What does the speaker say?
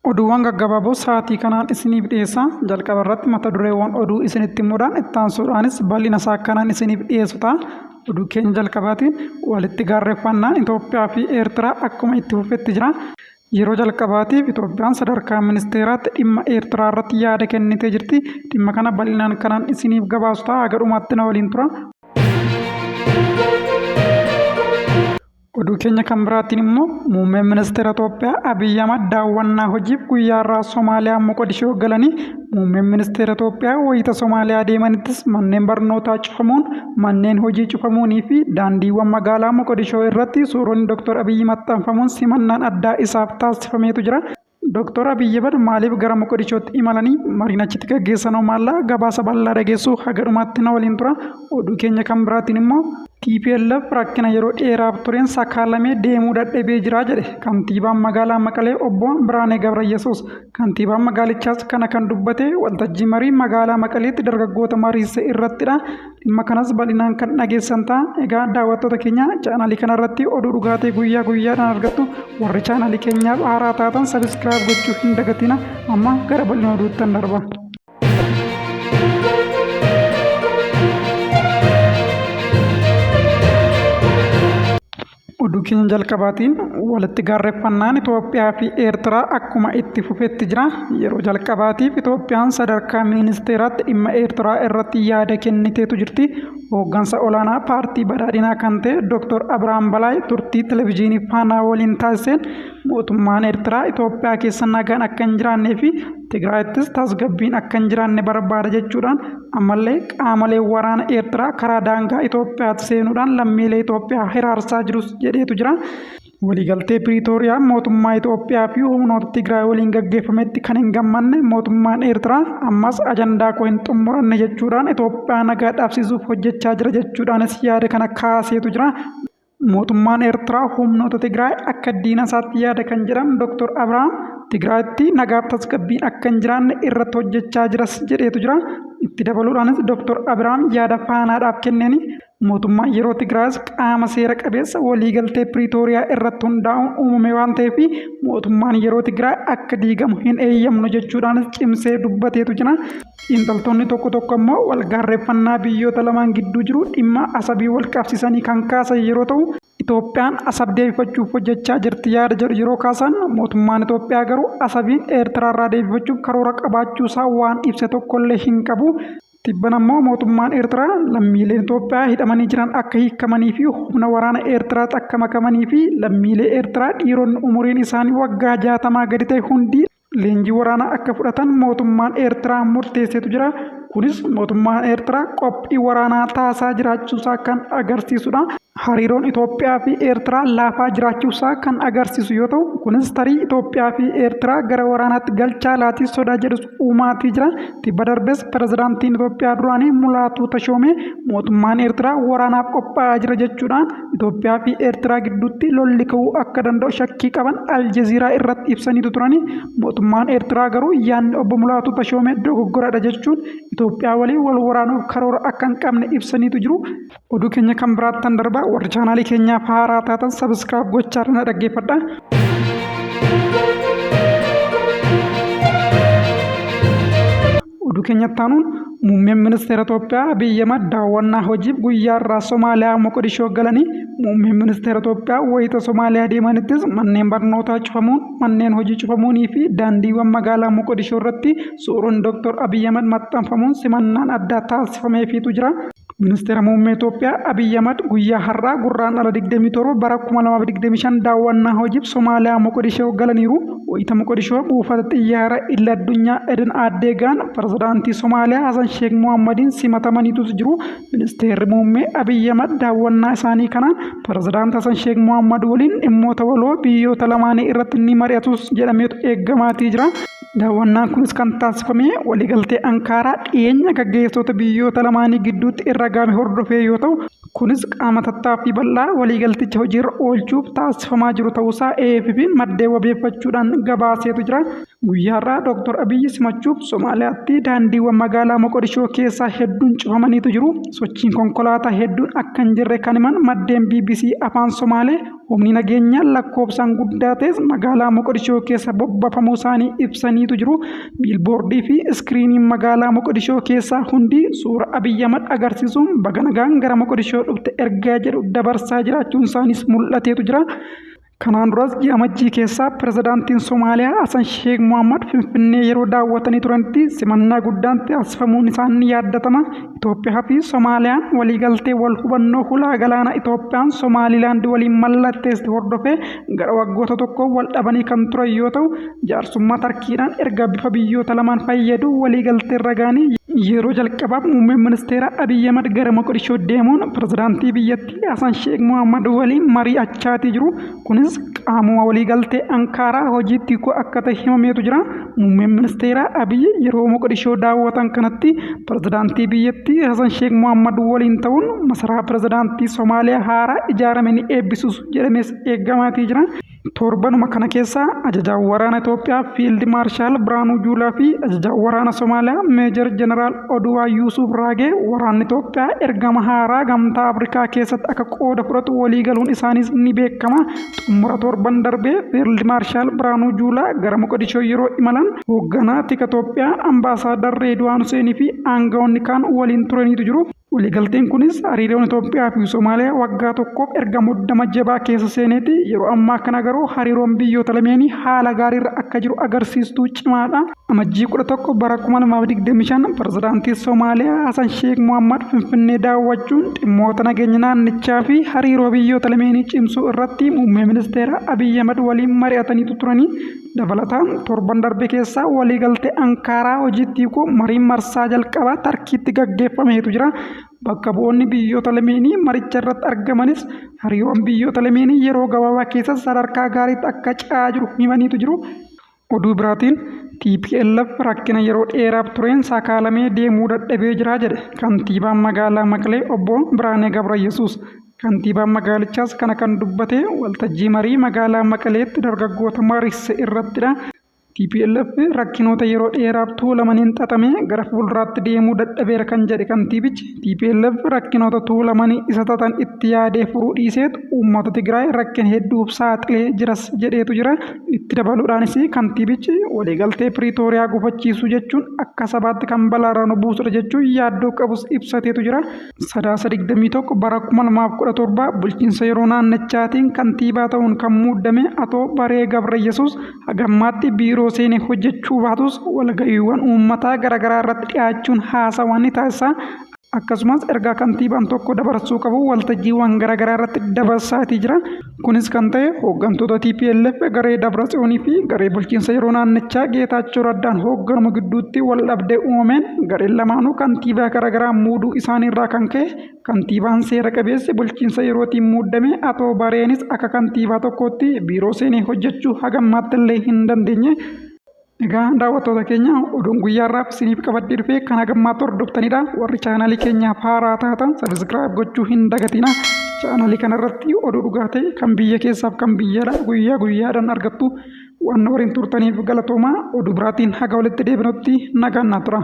Oduuwwan gaggabaaboo sa'aatii kanaan isiniif dhiyeessa. Jalqaba irratti mata dureewwan oduu isinitti himuudhaan itti aansuudhaanis bal'ina isaa kanaan isiniif dhiyeessu ta'a. Oduu keenya jalqabaatiin walitti gaarreffannaan Itoophiyaa fi Eertiraa akkuma itti fufetti jira. Yeroo jalqabaatiif Itoophiyaan sadarkaa ministeeraatti dhimma Eertiraa irratti yaada kennitee jirti. Dhimma kana bal'inaan kanaan isiniif gabaasu ta'a. Haga dhumaatti na waliin tura. Oduu keenya kan biraatiin immoo muummeen ministeera Itoophiyaa Abiyyi Ahmad daawwannaa hojiif guyyaa irraa Somaaliyaa Moqodishoo galanii muummeen ministeera Itoophiyaa wayita Somaaliyaa deemanittis manneen barnootaa cufamuun manneen hojii cufamuunii fi daandiiwwan magaalaa Moqodishoo irratti suuronni Dr. Abiyyi maxxanfamuun simannaan addaa isaaf taasifameetu jira. Doktor Abiy Ahimad maaliif gara Moqodishootti imalanii mariin achitti gaggeessanoo maalla gabaasa bal'aa dhageessuu haga dhumaatti na waliin tura. Oduu keenya kan biraatiin immoo tplf rakkina yeroo dheeraaf tureen sakaalamee deemuu dadhabee jira jedhe kantiibaan magaalaa Maqalee obbo Biraanee Gabrayyesuus. Kantiibaan magaalichaas kana kan dubbate waltajjii marii magaalaa Maqaleetti dargaggoota mariisise irrattidha. Dhimma kanas bal'inaan kan dhageessan ta'a. Egaa daawwattoota keenya chaanaalii kanarratti oduu dhugaatii guyyaa guyyaadhaan argattu warri chaanaalii keenyaaf haaraa taatan sabiskiraayib gochuu hin dagatina. Amma gara bal'ina oduuttan darba. Oduu keenya jalqabaatiin walitti gaarreffannaan Itoophiyaa fi Eertiraa akkuma itti fufetti jira. Yeroo jalqabaatiif Itoophiyaan sadarkaa ministeeraatti dhimma Eertiraa irratti yaada kenniteetu jirti. Hooggansa olaanaa paartii badhaadhinaa kan ta'e Dr. Abiraam Balaay turtii televezyiinii Faanaa waliin taasiseen Mootummaan Eertiraa Itoophiyaa keessa nagaan akka hin jiraannee fi Tigraayittis tasgabbiin akka hin jiraanne barbaada jechuudhaan ammallee qaamolee waraana Eertiraa karaa daangaa Itoophiyaatti seenuudhaan lammiilee Itoophiyaa hiraarsaa jirus jedheetu jira. Waliigaltee Piriitooriyaa mootummaa Itoophiyaa fi humnoota Tigraay waliin gaggeeffametti kan hin gammanne mootummaan Eertiraa ammas ajandaa koo hin xumuranne jechuudhaan Itoophiyaa nagaa dhabsiisuuf hojjechaa jira jechuudhaanis yaada kana kaaseetu jira. Mootummaan Eertiraa humnoota Tigraay akka diina isaatti yaada kan jedhan Dr. Abrahaam, Tigraayitti nagaaf tasgabbiin akka hin jiraanne irratti hojjechaa jiras jedheetu jira. Itti dabaluudhaanis Dr. Abrahaam yaada Faanaadhaaf kenneeni mootummaan yeroo Tigraayis qaama seera qabeessa waliigaltee Piriitooriyaa irratti hundaa'uun uumame waan ta'eef mootummaan yeroo Tigraay akka diigamu hin eeyyamnu jechuudhaanis cimsee dubbateetu jira. Xiinxaltoonni tokko tokko ammoo walgaarreeffannaa biyyoota lamaan gidduu jiru dhimma Asabiin walqabsiisanii kan kaasan yeroo ta'u, Itoophiyaan Asab deebifachuuf hojjechaa jirti yaada jedhu yeroo kaasan, mootummaan Itoophiyaa garuu Asabiin Eertiraarraa deebifachuuf karoora qabaachuusaa waan ibse tokkollee hin qabu. Tibbana ammoo mootummaan Eertiraa lammiileen Itoophiyaa hidhamanii jiran akka hiikamaniifi humna waraana Eertiraatti akka makamaniifi lammiilee Eertiraa dhiironni umuriin isaanii waggaa jaatamaa gadi ta'e hundi leenjii waraanaa akka fudhatan mootummaan Eertiraa murteesseetu jira. Kunis mootummaan Eertiraa qophii waraanaa taasaa jiraachuusaa kan agarsiisudha. Hariiroon Itoophiyaa fi Eertiraa laafaa jiraachuusaa kan agarsiisu yoo ta'u, kunis tarii Itoophiyaa fi Eertiraa gara waraanaatti galchaa laatii sodaa jedhus uumaatii jira. Tibba darbes pirezidaantiin Itoophiyaa duraanii Mulaatuu Tashoomee mootummaan Eertiraa waraanaaf qophaa'aa jira jechuudhaan Itoophiyaa fi Eertiraa gidduutti lolli ka'uu akka danda'u shakkii qaban Aljeziiraa irratti ibsaniitu turani. Mootummaan Eertiraa garuu yaadni obbo Mulaatuu Tashoomee dogoggoradha jechuun Itoophiyaa waliin wal waraanuuf karoora akka hin qabne ibsaniitu jiru. Oduu keenya kan biraattan darbaa warri chaanaalii keenyaaf haaraa taatan sabiskiraab gochaa irra na dhaggeeffadha. Oduu keenyatti aanuun muummeen ministeera Itoophiyaa Abiy Ahimad daawwannaa hojiif guyyaa irraa Somaaliyaa Moqodishoo galanii muummeen ministeera Itoophiyaa wayita Somaaliyaa deemanittis manneen barnootaa cufamuun manneen hojii cufamuunii fi daandiiwwan magaalaa Moqodishoo irratti suuraan Dr. Abiy Ahimad maxxanfamuun simannaan addaa taasifameefiitu jira. Ministeera Muummee Itoophiyaa Abiyyi Ahmad guyyaa har'aa Gurraandhala 27 bara 2025 daawwannaa hojiif Somaaliyaa Moqodishoo galaniiru. Wayita Moqodishoo buufata xiyyaara idil addunyaa Eden Addee ga'an pirezidaantii Somaaliyaa Hasan Sheek Mohammadiin simatamaniitus jiru. Ministeerri Muummee Abiyyi Ahmad daawwannaa isaanii kanaan pirezidaantii Hasan Sheek Mohammad waliin dhimmoota waloo biyyoota lamaanii irratti ni mari'atus jedhameetu eegamaatii jira. Daawwannaan kunis kan taasifame waliigaltee Ankaaraa dhiyeenya gaggeessitoota biyyoota lamaanii gidduutti irra gaame hordofee yoo ta'u, kunis qaama tattaaffii bal'aa waliigalticha hojiirra oolchuuf taasifamaa jiru ta'uusaa AFP'n maddeen wabeeffachuudhaan gabaaseetu jira. Guyyaarraa Dooktar Abiyyi simachuuf Somaaliyaatti daandiiwwan magaalaa Moqodishoo keessaa hedduun cufamaniitu jiru. Sochiin konkolaataa hedduun akka hin jirre kan himan maddeen bbc Afaan Somaalee Humni nageenyaa lakkoofsaan guddaa ta'es magaalaa Moqodishoo keessa bobbafamuu isaanii ibsaniitu jiru. Biilboordii fi iskiriiniin magaalaa Moqodishoo keessaa hundi suura Abiyyi Ahmad agarsiisuun baga nagaan gara Moqodishoo dhufte ergaa jedhu dabarsaa jiraachuun isaaniis mul'ateetu jira. Kanaan duras ji'a Amajjii keessaa pirezidaantiin Somaaliyaa Hasan Sheek Mohaammed Finfinnee yeroo daawwatanii turanitti simannaa guddaan taasifamuun isaanii yaadatama. Itoophiyaa fi Somaaliyaan waliigaltee wal hubannoo hulaa galaanaa Itoophiyaan Somaalilaand waliin mallatteesste hordofee gara waggoota tokkoo wal dhabanii kan turan yoo ta'u, jaarsummaa Tarkiidhaan erga bifa biyyoota lamaan fayyaduu waliigaltee irra ga'anii yeroo jalqabaaf Muummeen Ministeeraa Abiy Ahimad gara Moqodishoo deemuun Pirezidaantii biyyattii Hasan Sheek Mohaammad waliin mari'achaatii jiru. Kunis qaamuma waliigaltee Ankaaraa hojiitti hiikuu akka ta'e himameetu jira. Muummeen ministeeraa Abiy yeroo Moqdishoo daawwatan kanatti pirezidaantii biyyattii Hasan Sheek Mohammad waliin ta'uun masaraa pirezidaantii Somaaliyaa haaraa ijaarame ni eebbisuus jedhamees eegamaatii jira. Torbanuma kana keessa ajajaan waraana Itoophiyaa Fiild Maarshaal Birhaanuu Juulaa fi ajajaan waraana Somaaliyaa Meejar Jeneraal Oduuwaan Yuusuuf Raagee waraanni Itoophiyaa ergama haaraa gamtaa Afrikaa keessatti akka qooda fudhatu walii galuun isaaniis ni beekama. Xumura torban darbee Fiild Maarshaal Biraanuu Juulaa gara Moqodishoo yeroo imalan hoogganaa tika Itoophiyaa Ambaasaadar Reedwaan Huseenii fi aangawoonni kaan waliin turaniitu jiru. Waliigalteen kunis hariiroon Itoophiyaa fi Somaaliyaa waggaa tokkoof erga muddama jabaa keessa seeneeti. Yeroo ammaa kana garuu hariiroon biyyoota lameenii haala gaariirra akka jiru agarsiistuu cimaadha. Amajjii 11 bara 2025 pirezidaantii Somaaliyaa Hasan Sheek Mohammad Finfinnee daawwachuun dhimmoota nageenya naannichaa fi hariiroo biyyoota lameenii cimsuu irratti muummee ministeeraa Abiy Ahmad waliin mari'ataniitu turanii dabalataan torban darbe keessaa waliigaltee Ankaaraa hojiitti hiikuu mariin marsaa jalqabaa Tarkiitti gaggeeffameetu jira. Bakka bu'oonni biyyoota lameenii maricha irratti argamanis hariiroon biyyoota lameenii yeroo gabaabaa keessatti sadarkaa gaariitti akka ce'aa jiru himaniitu jiru. Oduu biraatiin tplf rakkina yeroo dheeraaf tureen sakaalamee deemuu dadhabee jira jedhe kantiibaan magaalaa Maqlee obbo Biraanee Gabrayyesuus. Kantiibaan magaalichaas kana kan dubbate waltajjii marii magaalaa Maqaleetti dargaggoota mariisise irrattidha. Tplf rakkinoota yeroo dheeraaf tuulamaniin xaxamee gara fuulduraatti deemuu dadhabeera kan jedhe kantiibichi tplf rakkinoota tuulamanii isa xaxan itti yaadee furuu dhiiseetu uummata Tigraay rakkina hedduuf saaxilee jiras jedheetu jira. Itti dabaluudhaanis kantiibichi waliigaltee Piriitooriyaa gufachiisuu jechuun akka sabaatti kan balaarra nu buusudha jechuun yaaddoo qabus ibsateetu jira. Sadaasa 21 bara 2017 bulchiinsa yeroo naannichaatiin kantiibaa ta'uun kan muuddame Atoo Baree Gabrayyesuus hagammaatti biiroo seenee hojjechuu baatus walga'iiwwan uummataa garaagaraa irratti dhiyaachuun haasawaa ni taasisa. Akkasumas ergaa kantiibaan tokko dabarsuu qabu waltajjiiwwan garaagaraa irratti dabarsaatii jira. Kunis kan ta'e hooggantoota TPLF garee Dabratsiyoonii fi garee bulchiinsa yeroo naannichaa Geetaachoo Raddaan hoogganamu gidduutti wal dhabdee uumameen gareen lamaanuu kantiibaa garaagaraa muuduu isaanii irraa kan ka'e kantiibaan seera qabeessi bulchiinsa yerootiin muuddame Atoo Bareenis akka kantiibaa tokkootti biiroo seenee hojjechuu hagammaatti illee hin dandeenye. Egaa daawwattoota keenya oduun guyyaa irraaf isiniif qabadhee dhufee kan hagammaatti hordoftanidha. Warri chaanalii keenyaaf haaraa taatan sabiskiraayib gochuu hin dagatina. Chaanalii kanarratti oduu dhugaa ta'e kan biyya keessaaf kan biyyaadha guyyaa guyyaadhaan argattu. Waan waliin turtaniif galatoomaa oduu biraatiin haga walitti deebinutti nagaan naa tura.